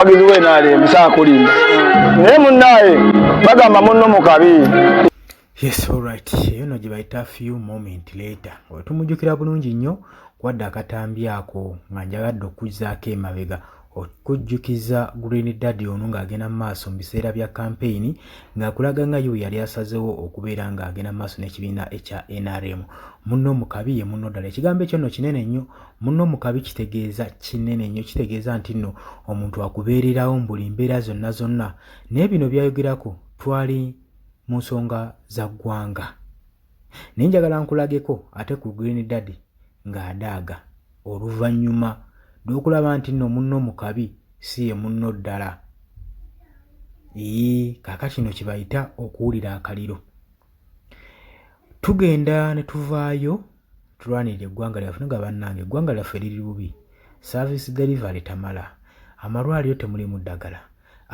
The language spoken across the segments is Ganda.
abagizi we naale musaa kulimba naye munnaaye bagamba munno mu kabi yes alright eyo no gye bayita few moment later oyo tumujjukira bulungi nnyo kwadde akatambi ako nga njagadde okuzzaako emabega okujjukiza Green Daddy ono ng'agenda mu maaso mu biseera bya kampeyini ng'akulaga nga yo yali asazewo okubeera ng'agenda mu maaso n'ekibiina ekya NRM. Munno mu kabi ye munno ddala. Ekigambo ekyo nno kinene nnyo muno mukabi kitegeeza kinene nnyo kitegeeza nti nno omuntu akubeererawo mu buli mbeera zonna zonna naye bino byayogerako twali mu nsonga za ggwanga naye njagala nkulageko ate ku green daddy ng'adaaga oluvannyuma lw'okulaba nti nno munno mukabi si ye munno ddala ii kaka kino kye bayita okuwulira akaliro tugenda ne tuvaayo tulwanirire eggwanga lyaffe nga bannange eggwanga lyaffe liri bubi service delivery tamala amalwaliro temulimu ddagala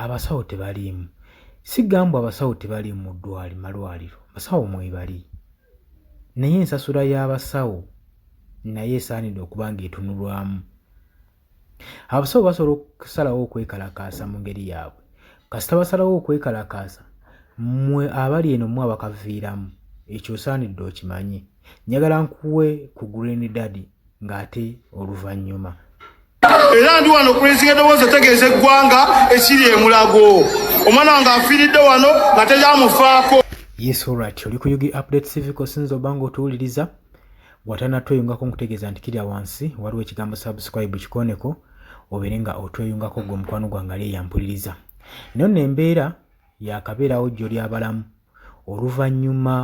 abasawo tebaliimu sigambwa abasawo tebaliimu mu ddwali malwaliro basawo mwebali naye ensasula y'abasawo naye esaanidde okuba ng'etunulwamu abasawo basobola okusalawo okwekalakaasa mu ngeri yaabwe kasita basalawo okwekalakaasa mwe abali eno mwe abakaviiramu ekyo osaanidde okimanye njagala nkuwe ku green daddy ng'ate oluvannyuma era ndi wano okulinziga eddoboozi otegeeza eggwanga ekiri emulago omwana wange afiiridde wano nga teyamufaako yesu orat oli kuyugi update civic osinza obanga otuwuliriza watana tweyungako nkutegeeza nti kirya wansi waliwo ekigambo subscribe kikoneko obeere nga otweyungako gwe omukwano gwange ali eyampuliriza nyo no embeera yakabeerawo jjo lyabalamu oluvannyuma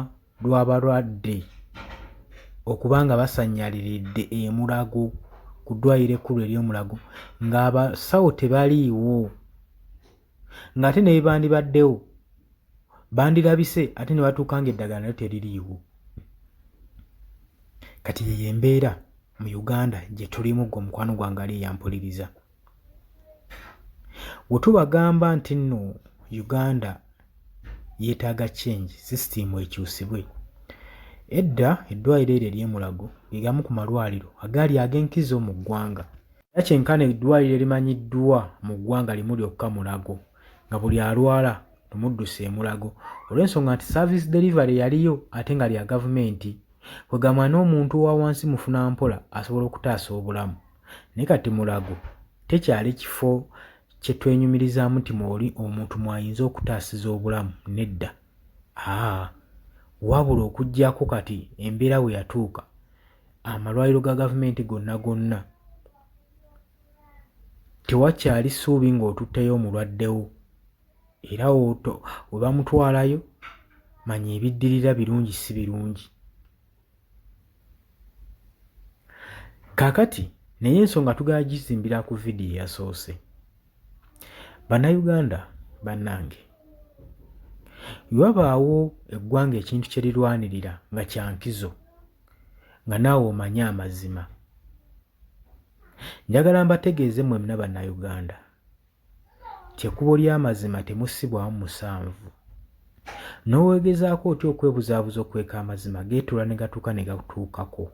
lw'abalwadde okuba nga basanyaliridde emulago ku ddwaliro ekkulu ery'omulago ng'abasawo tebaliiwo ng'ate ne bye bandibaddewo bandirabise ate ne batuuka ng'eddagala nalyo teririiwo kati yeyo embeera mu uganda gye tulimu gwe omukwano gwange ali eyampuliriza we tubagamba nti nno uganda yeetaaga change system ekyusibwe edda eddwaliro eryo eryemulago gegamu ku malwaliro agaali ag'enkizo mu ggwanga era kyenkana eddwaliro erimanyiddwa mu ggwanga limu lyokka Mulago nga buli alwala tumuddusa e Mulago olw'ensonga nti service delivery yaliyo ate nga lya gavumenti kwegamba n'omuntu wa wansi mufuna mpola asobola okutaasa obulamu naye kati Mulago tekyali kifo kye twenyumirizaamu nti mwoli omuntu mwayinza okutaasiza obulamu nedda. Haa, wabula okuggyako kati embeera we yatuuka amalwaliro ga gavumenti gonna gonna tewakyali ssuubi ng'otutteyo omulwadde wo era we bamutwalayo manya ebiddirira birungi si birungi. Kakati naye ensonga tugala gizimbira ku vidiyo eyasoose. Bannayuganda bannange, wabaawo eggwanga ekintu kye lirwanirira nga kya nkizo nga naawe omanye amazima. Njagala mbategeeze mmwe mna Bannayuganda kyekubo lyamazima temusibwamu musanvu nowegezaako otya okwebuzaabuza okweka amazima geetula negatuuka negatuukako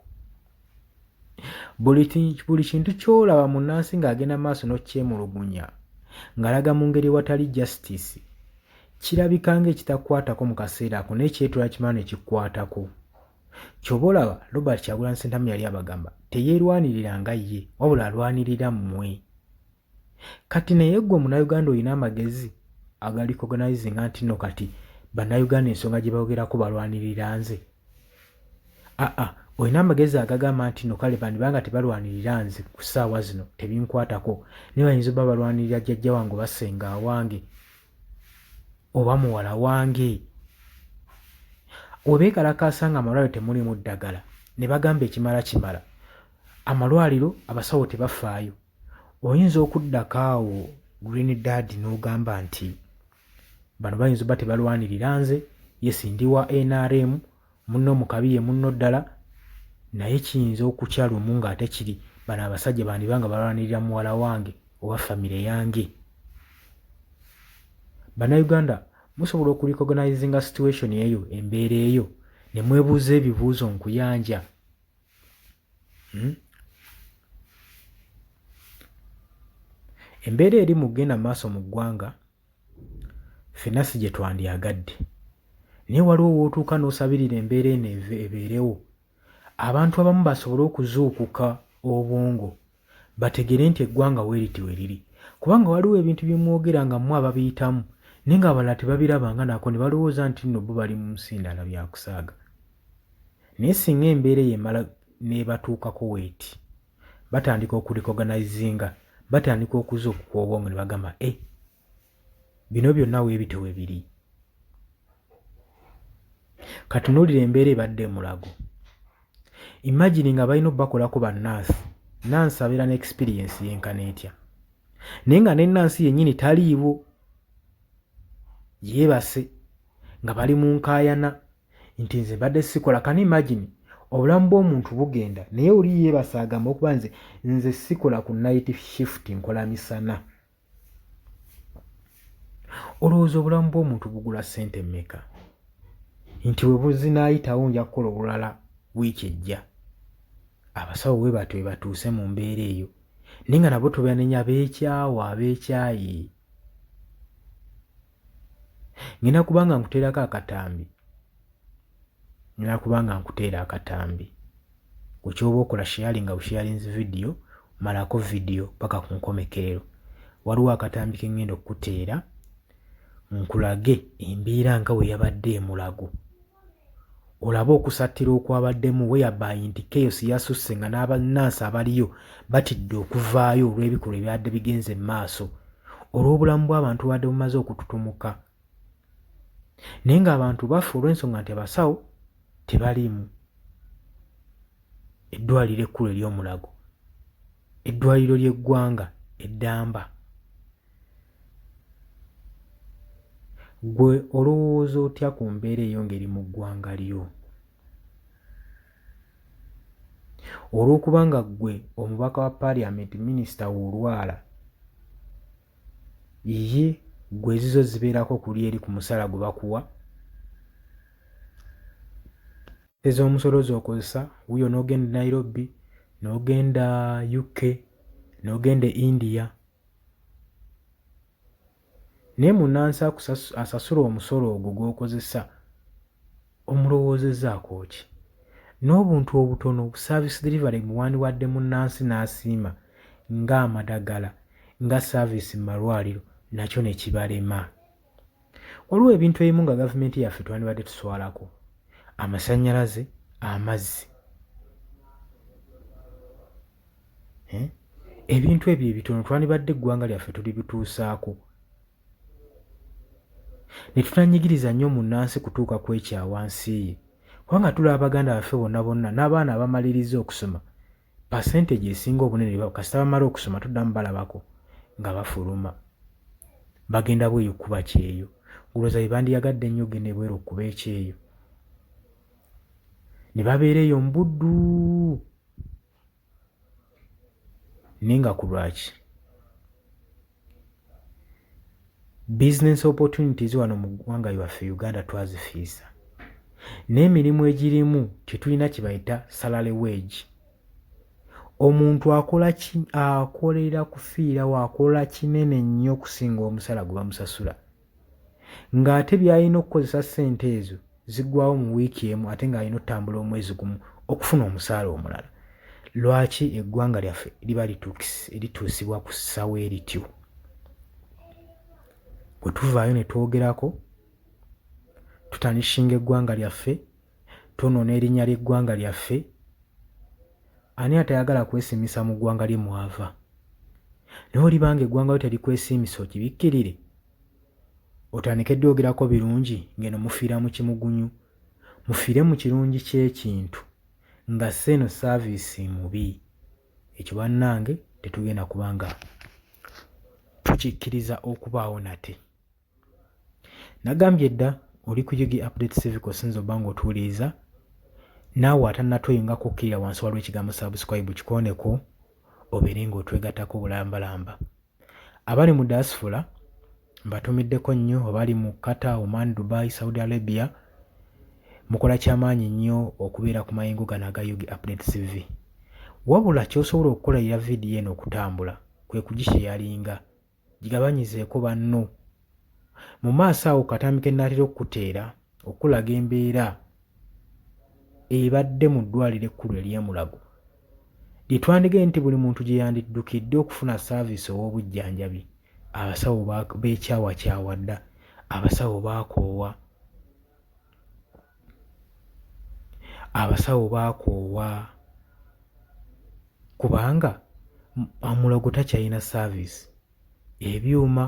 buli kintu kyolaba mu nansi ng'agenda maaso nokyemulugunya ngalaga mu ngeri watali justice kirabika nga ekitakwatako mu kaseera ako naye kyetula kimala nekikwatako kyoba olaba robert kyagulanyi sentamu yali abagamba teyerwanirira nga ye wabula alwanirira mmwe Kati naye gwe munauganda olina amagezi aga recognizing anti no kati banauganda ensonga gye bayogerako balwanirira nze aa olina amagezi agagamba nti no kale bandiba nga tebalwanirira nze ku ssaawa zino tebinkwatako naye bayinza oba balwanirira jjajja wange oba senga awange oba muwala wange webeekalakaasa nga amalwaliro temulimu ddagala ne bagamba ekimala kimala amalwaliro abasawo tebafaayo oyinza okuddako awo green dad n'ogamba nti bano bayinza oba tebalwanirira nze yesi ndi wa nrm munno mukabi ye munno ddala naye kiyinza okukya lumu ng'ate kiri bano abasajja bandiba nga balwanirira muwala wange oba famire yange bannayuganda musobola okurecognizinga situation eyo embeera eyo ne mwebuuza ebibuuzo nkuyanja Hmm? Embeera eri mu kugenda maaso mu ggwanga ffenna si gye twandyagadde naye waliwo w'otuuka n'osabirira embeera eno ebeerewo abantu abamu basobole okuzuukuka obwongo bategere nti eggwanga weriti weriri kubanga waliwo ebintu byemwogera nga mwe ababiyitamu naye nga abalala tebabirabanga nako nebalowooza nti nno bo bali mu nsi ndala byakusaaga naye singa embeera eyo emala nebatuukako weeti batandika okurekoganizinga batandika okuza okukwobwongo nebagamba e eh, bino byonna weebito we biri katunuulira embeera ebadde emulago imagine nga balina obakolako bannansi nansi abeera ne experience yenkana etya naye nga nenansi yennyini taliiwo yeebase nga bali mu nkaayana nti nze mbadde sikola kani imagine obulamu bw'omuntu bugenda naye oli yeebase agamba okuba nze nze sikola ku night shift nkola misana olowooza obulamu bw'omuntu bugula ssente mmeka nti bwe buzinaayitawo nja kukola obulala wiiki ejja abasawo we batyo we batuuse mu mbeera eyo naye nga nabo tubanenya beekyawa beekyayi ngenda kubanga nkuteerako akatambi ngenda kubanga nkuteera akatambi ku kyoba okola sharing nga usharing video malako video paka ku nkomekerero waliwo akatambi ke ngenda okukuteera nkulage embeera nga bwe yabadde emulago olabe okusattira okwabaddemu weyabaayi nti chaos yasusse nga n'abannansi abaliyo batidde okuvaayo olw'ebikolwa ebyadde bigenze mu maaso olw'obulamu bw'abantu badde bumaze okututumuka naye ng'abantu bafa olw'ensonga nti abasawo tebaliimu eddwaliro ekkulu ery'omulago Eddwaliro ly'eggwanga e Ddamba. Ggwe olowooza otya ku mbeera eyongeri mu ggwanga lyo? Olw'okuba nga ggwe omubaka wa paaliyamenti minisita w'olwala, ye ggwe ezizo zibeerako kuli eri ku musala gwe bakuwa? ez'omusolo z'okozesa wuyo n'ogenda e Nairobi, n'ogenda UK, n'ogenda e India. Naye munnansi asasula omusolo ogwo gw'okozesa omulowoozezaako ki? N'obuntu obutono bu service delivery bwe wandiwadde munnansi n'asiima ng'amadagala, nga service mu malwaliro nakyo ne kibalema. waliwo ebintu ebimu nga gavumenti yaffe twandibadde tuswalako amasannyalaze amazzi eh? ebintu ebyo ebitono twandibadde eggwanga lyaffe tuli bituusaako ne tutanyigiriza nnyo munnansi kutuuka ku ekyawansi ye kubanga tulaba baganda baffe bonna bonna n'abaana abamaliriza okusoma percentage esinga obunene kasita bamala okusoma tuddamu balabako nga bafuluma bagenda bweyo kuba kyeyo gulooza bebandiyagadde ennyo ogenda ebweru okuba ekyeyo ne babeera eyo mubuddu naye nga ku lwaki Business opportunities wano mu ggwanga lyaffe Uganda twazifiisa. N'emirimu egirimu tetulina kye bayita salary wage. Omuntu akola ki akolera kufiirawo akola kinene nnyo okusinga omusala gwe bamusasula. ng'ate by'alina okukozesa ssente ezo ziggwawo mu wiiki emu ate ng'alina otambula omwezi gumu okufuna omusaala omulala lwaki eggwanga lyaffe liba lituusibwa ku ssawo erityo bwe tuvaayo ne twogerako tutanishinga eggwanga lyaffe twonoona erinnya ly'eggwanga lyaffe, ani atayagala kwesimisa mu ggwanga lye mwava? Naye oliba ng'eggwanga lyo terikwesiimisa okibikkirire? Otandike ddi ogerako birungi ng'eno mufiira mu kimugunyu? Mufiire mu kirungi ky'ekintu nga si eno saaviisi mubi. Ekyo bannange tetugenda kuba nga tukikkiriza okubaawo nate. Nagambye dda oli ku UG Update Civic osinza obba ng'otuwuliriza naawe atanatoyo nga kukkirira wansi waliwo ekigambo subscribe kikooneko obeere ng'otwegattako bulambalamba. Abali mu diaspora mbatumiddeko nnyo abali mu Qatar, Oman, Dubai, Saudi Arabia mukola kyamaanyi nnyo okubeera ku mayengo gano aga UG Update TV. Wabula ky'osobola okukola ya vidiyo eno okutambula kwe kugisheyalinga. Gigabanyizeeko banno. Mu maaso awo katambi ke nnaatera okukuteera okukulaga embeera ebadde mu ddwaaliro ekkulu ery'e Mulago lye twandigaye nti buli muntu gye yandiddukidde okufuna saaviisi ow'obujjanjabi abasawo beekyawakyawa dda abasawo baakoowa abasawo baakoowa kubanga omulogo takyalina saaviisi ebyuma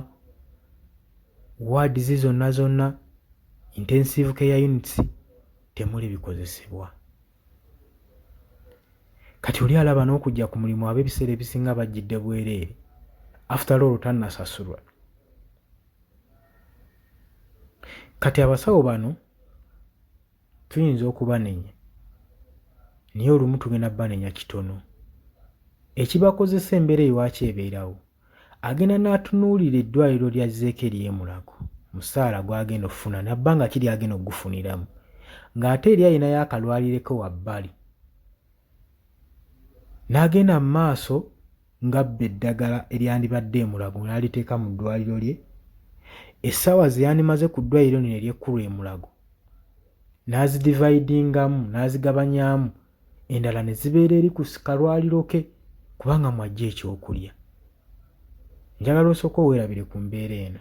waadizi zonna zonna intensive care units temuli bikozesebwa kati oli alaba n'okujja ku mulimu ab'ebiseera ebisinga bajjidde bwereere after all tannasasulwa Kati abasawo bano tuyinza okubanenya naye olumu tugenda banenya kitono. Ekibakozesa embeera ewaaki ebeerawo, agenda n'atunuulira eddwaliro lya zzeeko ery'emulago musaala gw'agenda okufuna nabbanga ki ly'agenda okugufuniramu ng'ate eri alinayo akalwalireko wabbali n'agenda mu maaso ng'abba eddagala eryandibadde e Mulago n'aliteeka mu ddwaaliro lye, essaawa ze yandimaze ku ddwaaliro lino ery'ekkulu e Mulago n'azidivaidingamu n'azigabanyamu endala ne zibeera eri ku kalwaliro ke kubanga mw'aggya ekyokulya. Njagala osooke owerabire ku mbeera eno.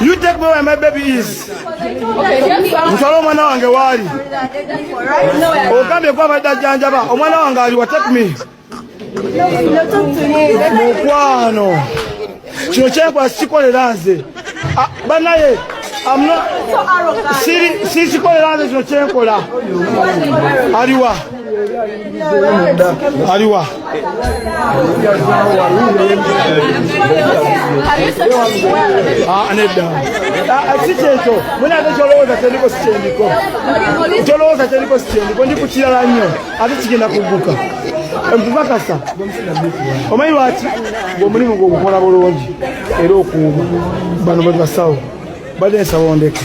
You take me where my baby is. Nsala omwana wange waali. Ogambye kuba badde ajjanjaba. Omwana wange aliwa take me. Mukwano. Kino kyenkola sikikolera nze. Ah, banaye sikikolera nze kino kyenkola. Aliwa. aliwa ah, nedda ah, ah, si kyekyo mune ate kyolowooza kyendiko sikyendiko kyolowooza kyendiko sikyendiko ndi ku kirala nnyo ate kigenda kugguka empubakasa omanyi lwaki omulimu gwogukola bulungi era okuuma bano bwebasawo badde nsaba ondeke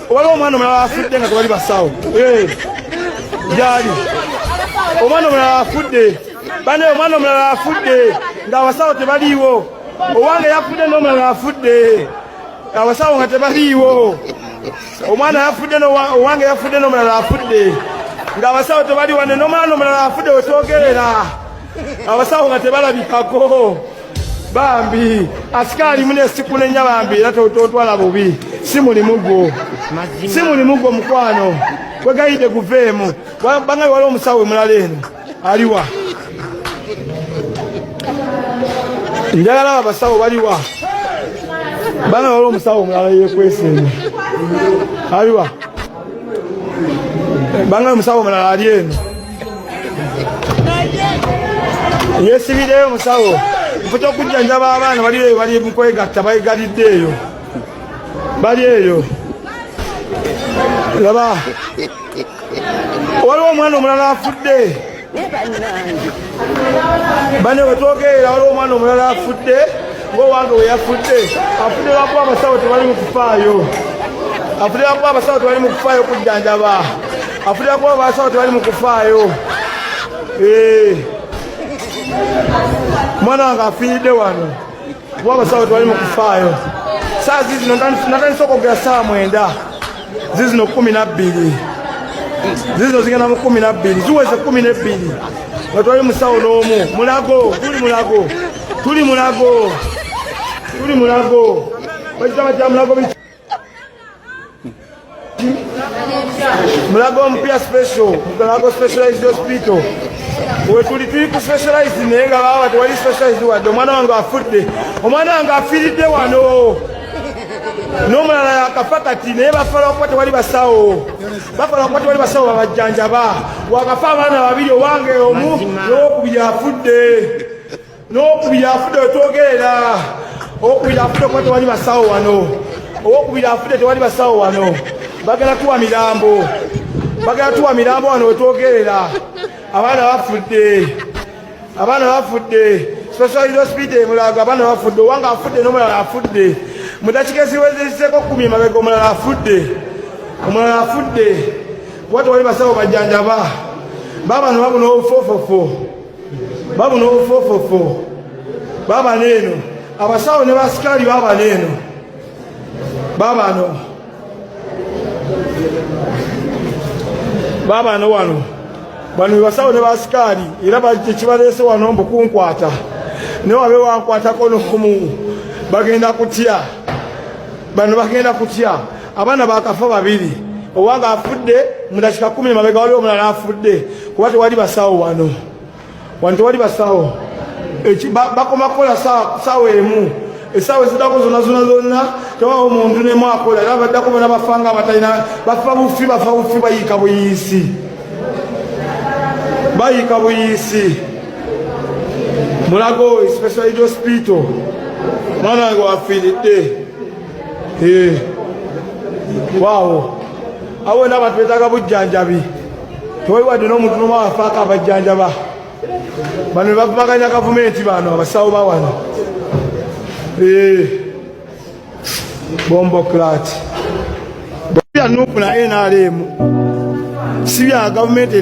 Obala omwana omulala afudde nga tebali basawo gyali omwana omulala afudde bane omwana omulala afudde nga abasawo tebaliiwo owange yafudde n'omulala afudde abasawo nga tebaliiwo omwana yafudde owange yafudde n'omulala afudde nga abasawo tebaliwane n'omwana omulala afudde wetwogerera abasawo nga tebalabikako bambi asikaali mune sikunenya bambi era totwala bubi si mulimu gwo si mulimu gwo mukwano kwegayidde guveemu bangabi waliwo omusawo omulala eno aliwa njagala abo abasawo baliwa bangabi waliwo omusawo omulala yekwesa eno aliwa banga omusawo omulala ali eno yesibireyo omusawo mputa okujjanjaba abaana bali eyo bali mukwegatta baegalidde eyo bali eyo laba waliwo omwana omulala afudde bane wetwogerera waliwo omwana omulala afudde ngaowange weyafudde afudde lwakuba abasawo tebali mukufaayo afudde lwakuba abasawo tebali mukufaayo okujjanjaba afudde lwakuba abasawo tebali mukufaayo eh. mwana wange afiiridde wano kuba abasawo tewali mukufaayo saa zizino natandisa okwogera saa mwenda zizino kumi nabbiri zizino zigenda mu kumi nabbiri ziweze kumi nebbiri nga twali musawo n'omu mulago tuli mulago tuli mulago tuli mulago bakitaba kya mulago Mulago omupya special Mulago specialized hospital wetuli tuli ku specialized naye nga baba tewali specialized wadde omwana wange afudde omwana wange afiiridde wano n'omulala yakafa kati naye bafala okuba tewali basawo bafala okuba tewali basawo babajjanjaba wakafa abaana babiri owange omu n'owokubiri afudde n'okubiri afudde wetwogerera okubiri afudde kuba tewali basawo wano owokubiri afudde tewali basawo wano bagala tuwa mirambo bagala tuwa mirambo wano wetwogerera abaana bafudde abaana bafudde specialist hospital emulago abaana bafudde owanga afudde n'omulala afudde mudakika eziwezezeko kumi mabega omulala afudde omulala afudde kuba tewali basawo bajjanjaba baabano babuna obufofofo babu nobufofofo baba neeno abasawo ne basikaali baba neeno babano babano wano bano bebasawo ne basikaali era kibaleese wano mbu kunkwata naye wabe wankwatako nomu bagenda kutya bano bagenda kutya abaana bakafa babiri owange afudde mudakika kumi mabega waliwo omulala afudde kuba tewali basawo wano wano tewali basawo bakoma kukola sawa emu esaawa ezidako zona zona zonna tewawo muntu nemu akola era baddako bona bafanga abatalina bafa bufi bafa bufi bayiika buyiisi bayiika buyiisi mulago special hospital mwana wange wafiiridde Eh, waawo awo wena abantu betaaga bujjanjabi tewali wadde n'omuntu nomu afaako abajjanjaba bano bebavumaganya gavumenti bano abasawo bawano eh, bombo clat bya nupu na nrm si bya gavumenti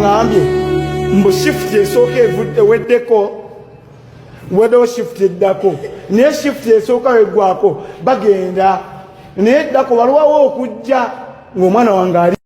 ngambye mbu shift esooka eweddeko wedewo shift eddako naye shift esooka weggwako bagenda naye eddako balwawo okujja ng'omwana wange ali